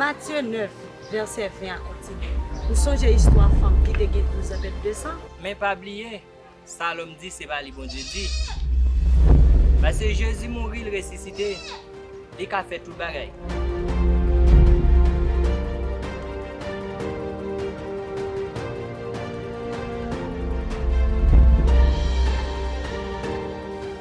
Matye 9, vèsè 20 a kontinye. Ou sonje istwa fanm ki te gen douzan bèt de san? Men pa bliye, sa lòm di se pa li Bondye di. Pase Jezi mouri, l resisite. Li ka fè tout bagay.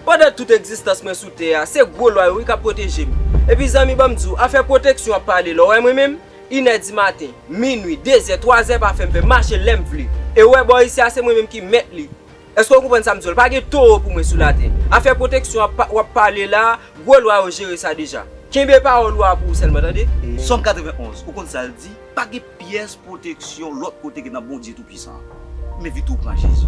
Pandan tout egzistans mwen sou tè a, se gwo lwa yo wi k ap pwoteje m. Epi zanmi ban m di w, afè pwoteksyon ap pale la, w wè mwen menm? Inè di maten, minui, dezè, twazè pa fè m fè, mache lè m vle. E w wè bò isi a se mwen menm ki mèt li. Eske ou konprann sam di w la? Pa gen towo pou mwen sou latè. Afè pwoteksyon ap pa wap pale la, gwo lwa yo jere sa deja. Kenbe pawòl ou a pou ou sèlman tande. Sòm 91, ou konn sa l di? Pa gen pyès pwoteksyon lòt kote ke nan Bondye Toupwisan an. Menvite w pran Jezi.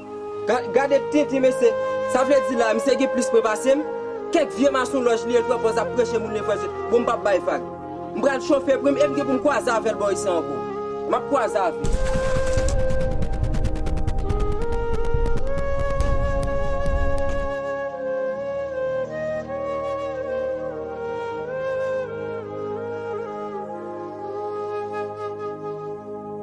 Gade tintin mesye, sa vle di la misye gen plis pwen pasem? Kèk vye masonlòj li el pran pòz ap preche moun levranj yo, bon mpap bay vag. Mpral chofe prim em gen poum kwaze avèl bò isi an ankò. Map kwaze avèl.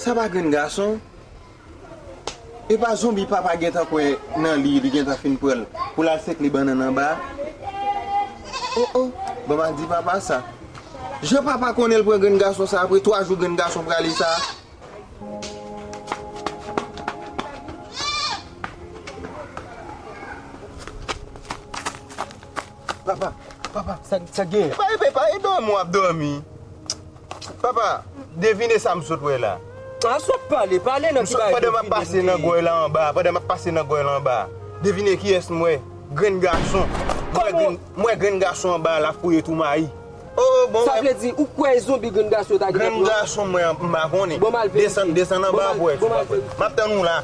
Sa pa grenn gason. E pa zonbi papa gentan kwè nan li, li gentan fin pran l pou l al sekle bannann anba a. O o, bon ba di papa sa. Jan papa konnen l pran grenn gason sa apre 3 jou grenn gason prale sa. Papa, papa, sa k gen? Epa, epa, epa, e dòmi w ap dòmi. Papa, devine sa m sot wè la. A, sot pale, pale nan ti bagay devine. Pandan m ap pase nan gòy la anba, pandan m ap pase nan gòy la anba, devine kiyès m wè? Grenn gason. Kòm ou? M wè grenn gason anba la fouye tou mayi. Oh oh bon. Sa vle di ou kwè e zonbi grenn gason yo ta gentan pran. Grenn gason mwen an m pa konnen. Bon m al verifye. Desann desann anba pou wè si w pa kwè. Map tann ou la.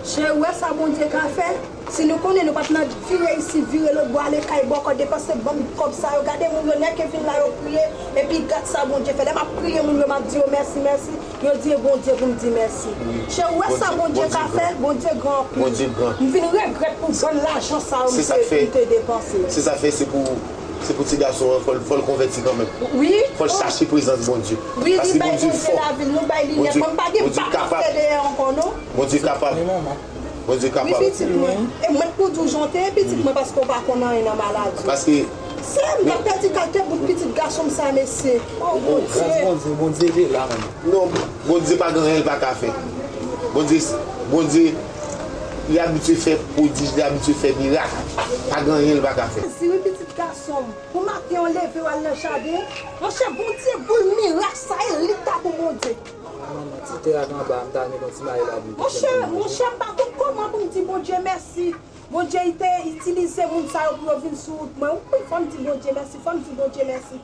Cheri ou wè sa Bondye ka fè si nou konnen nou pat nan fi reyisi vire lòt bò ale kay bòkò depanse banm kòb sa yo gade moun yo nèke vin la yo kriye epi gad sa Bondye fè lè map priye moun yo map di yo mèsi mèsi yo di e Bondye poum di mèsi cheri ou wè sa Bondye ka fè Bondye gran anpil m vin regrèt pou bann lajan sa yo m te depanse. Se sak fè se pou. Se pou ti gason an fòl fòl konvèti kanmenm fòl chache prezans Bondye paske Bondye fò Bondye kapab Bondye kapab Bondye kapab paske non Bondye pa gen anyen li paka fè Bondye Bondye Li abitye fè pwodij, li abitye fè mirak. Pa gen anyen li pa ka fè. Jezi, wi pitit gason m. Bon maten an leve wal nan jaden. Monchè Bondye boul mirak sa e li ta bon Bondye. Ala manman ti tè ak anba m ta renmen konn ti bagay la vin pi senp pou mwen. Monchè m pa konn koman pou m di Bondye mèsi. Bondye te itilize moun sa yo pou yo vin sou wout mwen wi fò m di Bondye mèsi fò m di Bondye mèsi.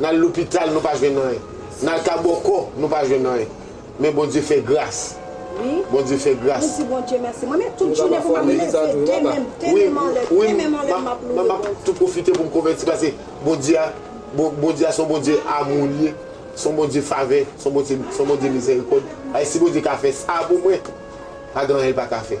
N al lopital nou pa jwenn anyen. N al ka bòkò nou pa jwenn anyen. Men Bondye fè gras. Bondye fè gras. Wi mwen m ap tou pwofite pou m konvèti pase Bondye a se yon Bondye amou li ye. Se yon Bondye favè. Se yon Bondye mizèrikòd. Si Bondye ka fè sa pou mwen pa gen anyen l pa ka fè.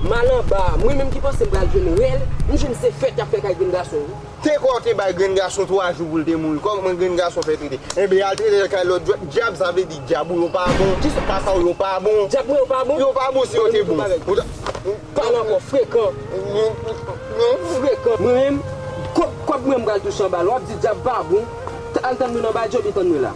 M al anba a, mwen menm ki panse m pral jwenn rèl, m jwenn se fèt y ap fè kay grenn gason wi. Te kwè w te bay grenn gason 3 jou pou l te mouri, kòman grenn gason fè trete? Enben al trete l kay lòt djòl, djab sa vle di djab ou yo pa bon, kisa papa w yo pa bon, Djab mwen yo pa bon? yo pa bon si yo te bon, ou ta, Pale ankò frekan, frekan. Mwen menm, kòb mwen m pral touche anba l, w ap di djab pa bon, al tann mwen anba djòl ou tann mwen la.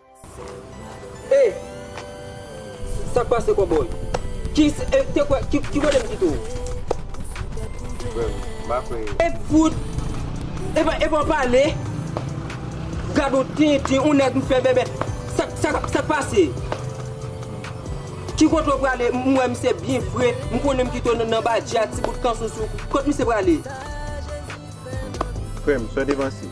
Hey! Sak pase cowboy? Ki te kwè ki kotem kite w? Frèm, m pa kwè yo. E fout! Epa epa w pale? Gad on tintin, on nèg m fè bèbè. Sak pase? Ki kote w prale? M wè misye byen fre, m konnen m kite w nan badji a ti bout kanson sou ou. Kot misye prale? Frèm, sò devanse.